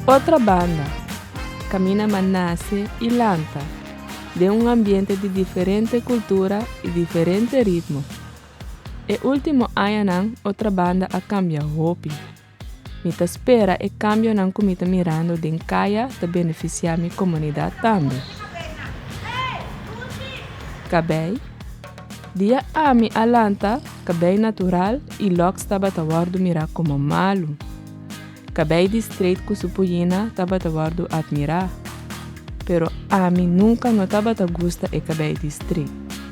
Otra banda, Camina ma nace y lanta den un ambiente di diferente cultura y diferente ritmo. E ultimo añanan Otra Banda a cambia hopi. Mi ta spera e kambionan ku mi ta mirando den kaya ta benefisiá mi komunidat tambe. Kabei di e ami a lanta kabei natural i lòks tabata wòrdu mirá komo malu. Kabei di streit ku su puyina tabata wòrdu atmirá. Pero ami nunka no tabata gusta e kabei di streit.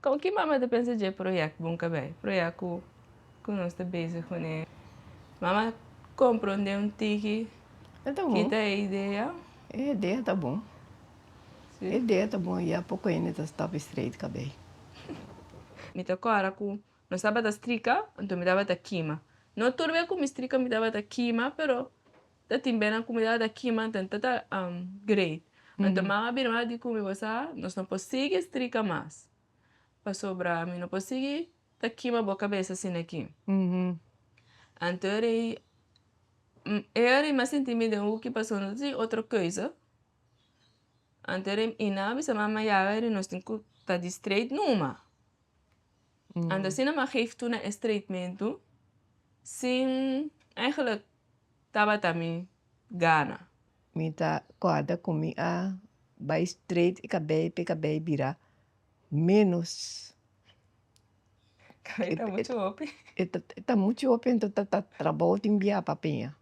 Kon ki mama ta pensa dje proyèkt bon kabei proyèkt ku ku nos ta bezig kuné mama komprondé un tiki ki ta e idea? E idea ta bon e idea ta bon ya poko hende ta stòp streit kabei. Mi ta kòrda ku nos tabata strika anto mi tabata kima no tur be ku mi strika mi tabata kima pero ta tin bena comunidad aki man ta ta great anto man a bira di cu mi bo sa nos no por sigui strika mas pasobra mi no por sigui ta kima bo cabeza asina aki anto e rei e rei mi a sinti mi den hoeki pasobra no ta tin otro keuze anto e rei Ina a bisa mi ama yaga e rei nos tin cu ta di straight numa anto asina mi a geef tur na e straightmento sin eigenlijk tabata mi gana. Mi ta guarda cu mi a bay straight y cabey pe cabey bira menos. Cabey ta mucho hopi. E ta mucho hopi ento ta ta trabao tin bia pa peña.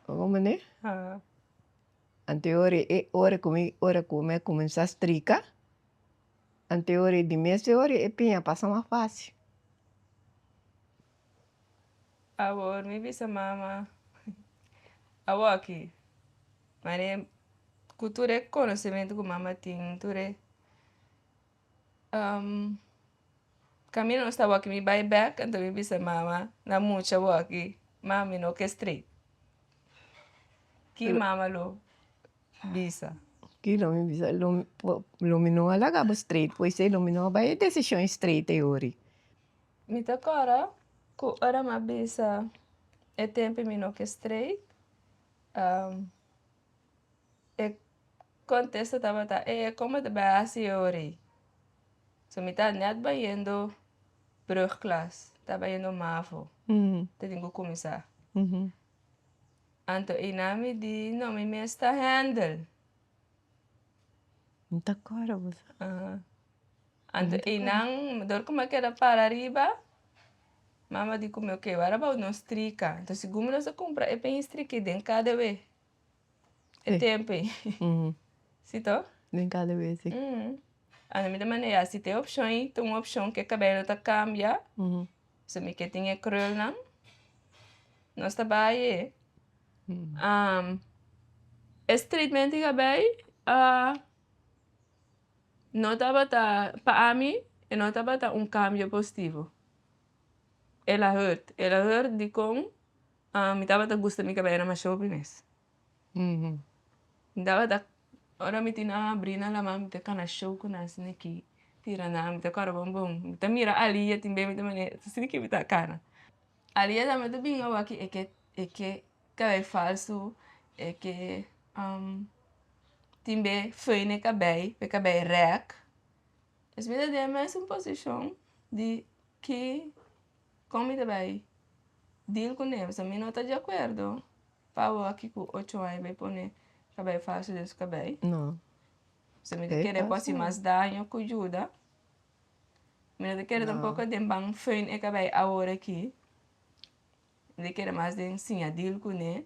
Oga mane? Ante ora cu mi a cuminsa strica. Ante ora y di mes de ora e piña a pasa mas faci. Awor mi bisa mama awor aki mane cu tur e conocimentu cu mama tin tur e caminda nos ta awor aki mi bay back anto mi bisa mama na mucha awor aki mami no ke straight ki mama lo. bisa. Ki lo mi bisa, lo mi no a laga bo straight po esei lo mi no a bai e desishon straight te ori. Mi ta kòrda ku ora mi a bisa e tempi mi no ke straight e kontesto tabata e kon bo ta bai hasi e ori, so mi ta nèt bayendo brugklas, mi ta bayendo mavo ta tin ku kuminsá. Anto Einá mi di, No, mi mes ta Händel. Mi ta kòrda bo sa. Aha. Anto Einá, dor ku mi a keda para ariba, mama a di ku mi, Ok, wak a bou nos strika. Anto sigun mi no sa kumpra e peña strika ei den kada we e tempu ei. Si to? Den kada we, si. Anto mi ta manda, Ya, si ta e opshon ei, ta un opshon ku e kabel lo ta kambia. So mi ke tin e krulnan, nos ta bai e. e streetment tin abai no tabata pa ami e no tabata un cambio positivo ela hurt ela hurt dikon mi tabata gusta mi ke bai na mashopi mes. Nta wak tak ora mi tin a bri nan laman mi ta kana show ku nan sini ki tira nan mi ta kor bon bon mi ta mira alia tin be mi ta mane sini ki mi ta kana alia tambe ta bin awaki e ke e ke kabay falso e ke tin be fai ne kabay e kabay rek pues mi ta den mesun posishon di ki kon mi ta bai dil kuné pasobra mi no ta di akuerdo. Pabo aki cu ocho aña bay pone cabey falso den su cabey. No. So mi ta kere por si mas daño cu yuda. Mi no ta kere tampoco den ban feun e cabey awor aki. Mi ta kere mas den siñadil cune.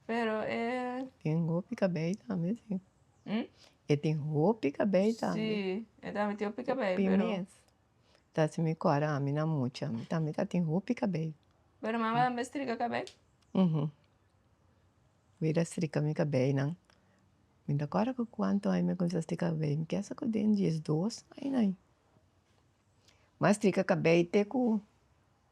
Pero e. Tin hopi cabey tambe si. E tin hopi cabey tambe. Si, e tambe tin hopi cabey pero. Hopi mes. ta si mi kòrda ami na mucha mi tambe ta tin hopi kabei. Pero mama tambe strika kabei? Uhum Vida strika mi kabeinan mi ta kòrda ku kuantu aña mi a kuminsá strika kabei mi kesa ku den diesdos aña aña mi a strika kabei te ku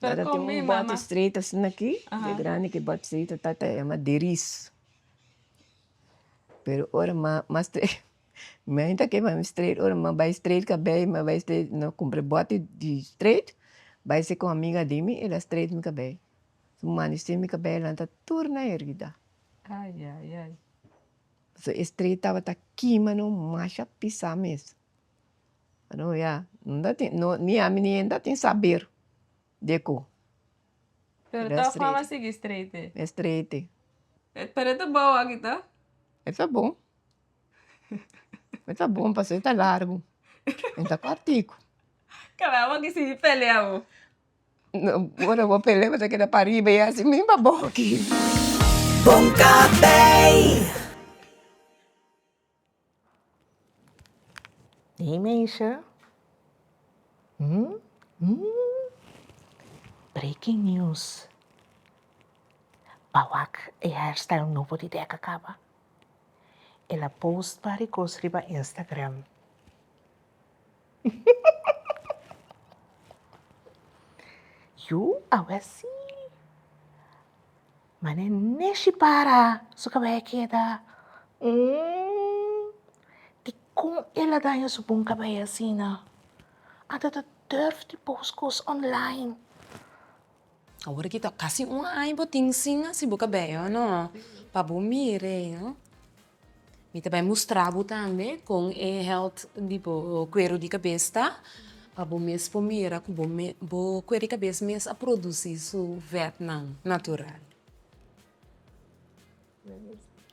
Tabata tin un bòt stret asina aki, e grandi ki bòt stret ta ta yama deris. Pero ora ma ma stret mi ain ta kepami stret ora ma bai stret kabei ma bai stret no kumpra e bòt di stret bai se kon amiga di mi el a stret mi kabei su mandi stret mi kabei elantra tur na herida pasobra e stret tabata kima no masha pisa mes. Bueno ya no tin no ni ami ni henda tin saber di e ko. Pero de todas formas sigui streite. E streite. Pero e ta bou aki to? E ta bon. E ta bon pasobra e ta largu. E ta kortiku. Kaba abo aki sigui pelea bo. Ora bo pelea bo ta keda pariba ya si mi pa bou aki. Bon café. Hey meisje, breaking news, pa wak e hairstyle nobo di deka kaba, el a post bari kos riba instagram, yu awesi. Ma ne neshi para su kabaya keda umm dikon el a daña su bon kabaya asina anto ta durf di post kos online. Awor aki ta kasi un aña bo tin sin asi bo kabaya no pa bo mira no. Mi ta bai mustra bo tambe con e health di bo cuero di cabez ta, pa bo mes por mira cu bo mes, bo cuero di cabez mes a produci su vetnan natural.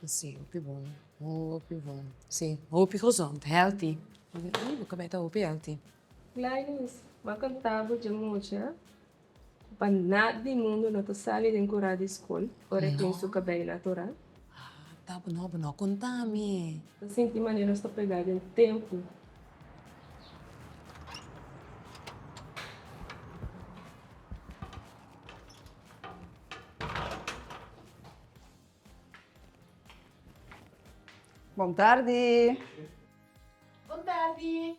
Sí, hopi bon, hopi bon, sí, hopi gezond, healthy, bo cabez ta hopi healthy. Gladys, m'a contabo dje mucha. Pa nat di mundu no ta sali den kura di skol ora e tin su kabei natural. Ta bo no bo no konta mi. Ta sinti manera nos ta pega den tempu. Bon tardi. Bon tardi.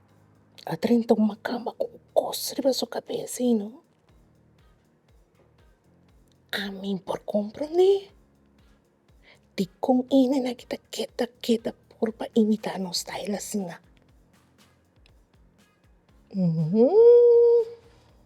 a drenta un macamba cu cos riba su cabeza y no ami por comprende dicon e nena ta keta keta por pa imita no style asina.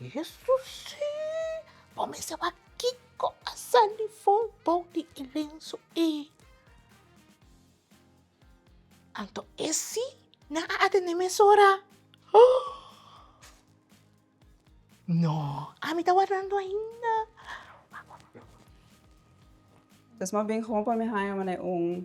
Jesusii! Bo mester wak kiko a sali for bou di e lenso ei! Anto esi nan a atende mesora? Hoo! No, ami ta wardando ainda. Wak, wak, wak, wak, wak. Tes mas bien hopi pa mi haya manera un.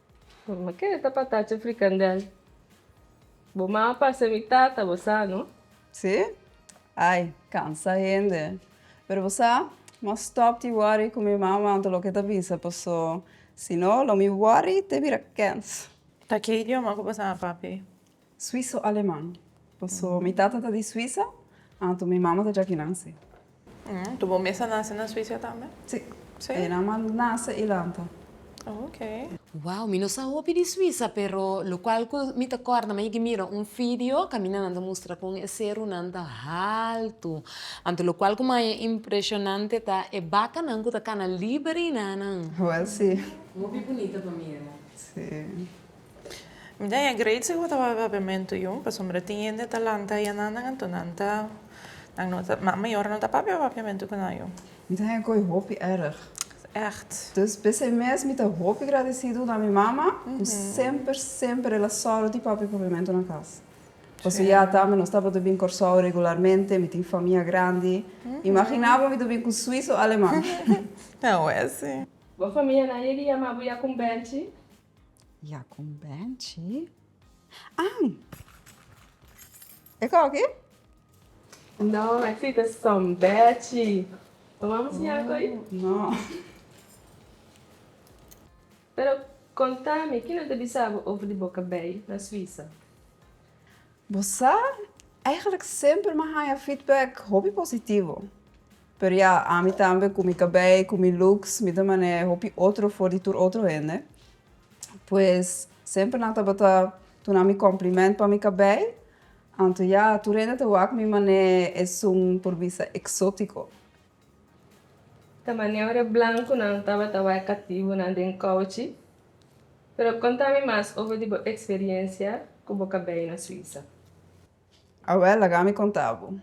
Bo keda ta patacha frikandel. Bo mama pasa mi tata bo sa no. Sí? Ai, cansa hende. Pero bo sa, mos stop di worry cu mi mama anto loke ta bisa paso, si no lo mi worry te bira kens. Ta ki idioma cu bo sa, papi? Suiso Aleman. Paso mi tata ta di Suisa, anto mi mama ta djaki nase. Tu bo mes a nase na Suisa tambe? Si. E nan ma nase i lanta. Ok. Wow, mi no sa hopi di Suisa, pero locual cu mi ta corda maya ki mira un video, caminanan ta mustra con e cerunan ta haltu. Anto locual cu maya impresionante ta e bacanan cu ta cana liber y nanan. Wel si. Hopi bunita pa mira. Si. Mi ta e great si bo ta wak papiamentu yu pasobra tin hende ta lanta i anan nan anto nan ta nan no ta nan mayor no ta papia papiamentu ku nan yu. Mi ta haya koi hopi erg. Echt. Dus p'esei mes mi ta hopi gradisidu na mi mama ku semper semper el a sòru di papia papiamentu na kas. Paso ya tambe nos tabata bin Kòrsou regularmente, mi tin famia grandi, imaginá bo mi ta bin ku Swiso aleman. Awes si. Bo famianan yega yama bo ya ku un bènchi? Ya con Benchi. Ang! E kau aki? No, e aki ta son Bechi. Bo mama siñal ku ei? No. Pero konta mi, kinan ta bisa bo over di bo ka bai na Suisa? Bo sa, eigenlijk semper mi a haña feedback hopi positivo. Pero ya, ami tambe cu mi cabey, cu mi looks, mi ta man'e hopi otro for di tur otro hende. Pues, semper nan tabata duna mi compliment pa mi cabey. Anto ya, tur hende ta wak mi man'e esun por bisa exotico. Ta man'e ora e blancunan tabata wak e cativonan den couchi. Pero contami mas over di bo experiencia cu bo cabey na Suiza. A wèl, laga mi konta bo.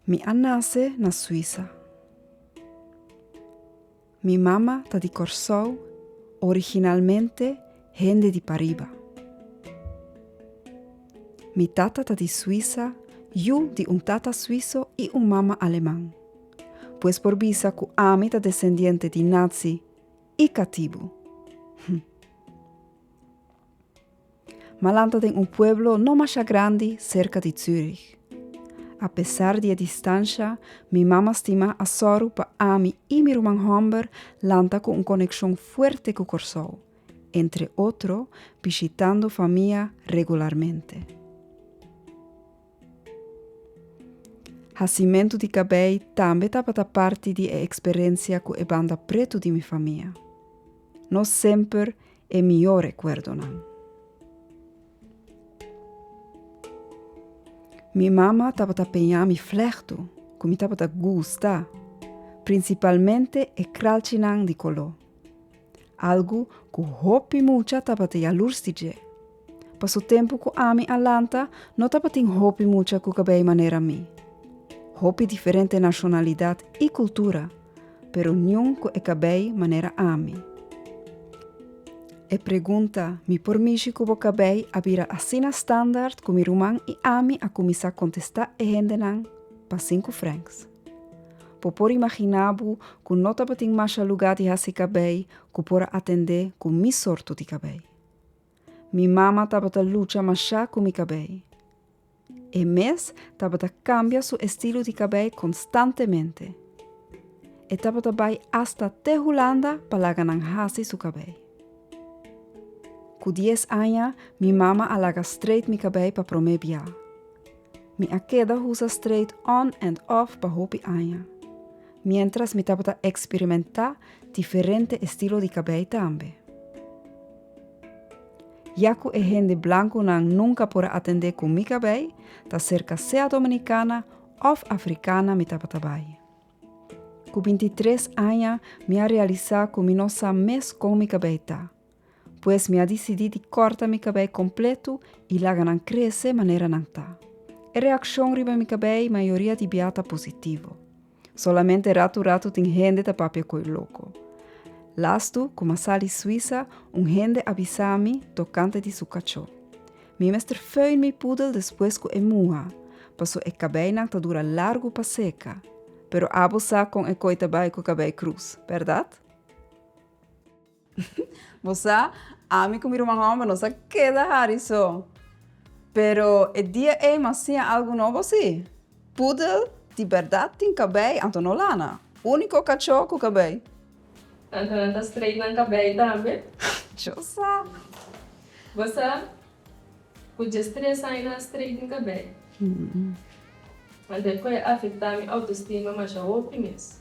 Mi a nase na Suisa. Mi mama ta di Kòrsou, originalmente hende di pariba. Mi tata ta di Suisa, yu di un tata suiso i un mama aleman. Pues por bisa ku ami ta desendiente di Nazi i katibu. Hm. Malanta den un pueblo no masha grandi serka di Zürich. A pesar di e distansha, mi mama stima a sòru pa ami i mi ruman hòmber lanta ku un konekshon fuerte ku Kòrsou, entre otro bishitando famia regularmente. Hasimentu di kabei tambe tabata parti di e eksperensia ku e banda pretu di mi famia. No semper e mihó rekuerdonan. Mi mama tabata peñá mi flèhtu, ku mi tabata gusta, prinsipalmente e kralchinan di koló. Algu ku hopi mucha tabata yalurs di dje. Pa su tempu ku ami a lanta no tabatin hopi mucha ku kabei manera mi. Hopi diferente nashonalidat i kultura, pero niun ku e kabei manera ami. E pregunta mi por mishi ku bo kabei a bira asina standard ku mi ruman i ami a kuminsá kontestá e hendenan pasin ku Franks. Bo por imaginá bo ku no tabatin masha lugá di hasi kabei ku por a atendé ku mi sorto di kabei. Mi mama tabata lucha mashá ku mi kabei. E mes tabata kambia su estilo di kabei konstantemente. E tabata bai asta te Hulanda pa laga nan hasi su kabei. Ku dies aña mi mama a laga streit mi kabei pa promé bia. Mi a keda husa streit on and off pa hopi aña. Mientras mi tabata experimentá diferente estilo di cabei tambe. Ya cu e hende blancunan nunca por a atendé cu mi cabei, ta cerca sea Dominicana of Africana mi tabata bai. Cu binti tres aña mi a realisá cu mi no sa mes con mi cabei ta. Pues mi a disidí di kòrta mi kabei kompletu i laga nan krese manera nan ta. E reakshon riba mi kabei mayoria di bia ta positivo. Solamente ratu ratu tin hende ta papia koi loko. Lastu ku ma sali Suisa un hende a bisa mi tokante di su kachó. Mi mester föin mi poedel despues ku e muha, paso e kabeinan ta dura largu pa seka. Pero abo sa kon e koi ta bai ku kabei krus, bèrdat? Bo sa, ami ku mi ruman hòmber nos a keda hari so. Pero e dia ei mi a siña algu nobo si. Pudel di bèrdat tin kabei, anto no lana. Úniko kachó ku kabei. Anto nan ta streit nan kabei tambe. Cho sa. Bo sa ku dje stres aña nan a streit mi kabei. Anto e kue a afektá mi outostima masha hopi mes.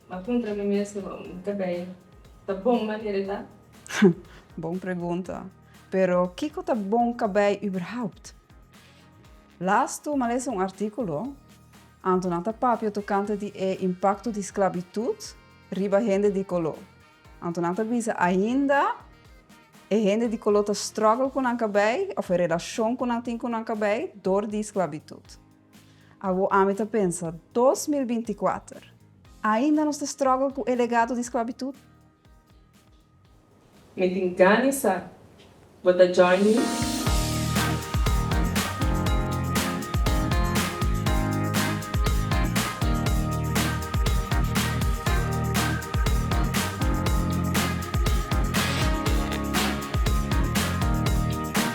M'a puntra mi mes no mi ta bay. Ta bon manera e ta? Ha, bon pregunta. Pero kiko ta bon ka bay überhaupt? Laas tu m'a lesa un artíkulo anto nan ta papia tokante di e impakto di sklabitut riba hende di koló. Anto nan ta bisa ainda e hende di koló ta struggle ku nan ka bay òf e relashon ku nan tin ku nan ka bay dor di sklabitut. Awor ami ta pensa, dos mil binti kuater, ainda nos ta struggle ku e legado di sklabitut? Mi tin gani sa bo ta join mi.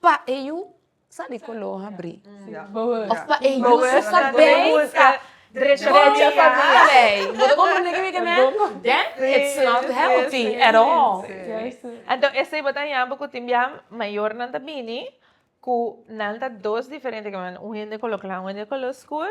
Pa e yu sa di color habri. Of pa e yu su sa bay buska drecha pa bay. Bo ta comprende kico kico me? Den it's not healthy at all. Enton esey bo ta yama cu tin bia mayornan ta bini cu nan ta dos diferente caminda. Un hende color cla un hende color scur.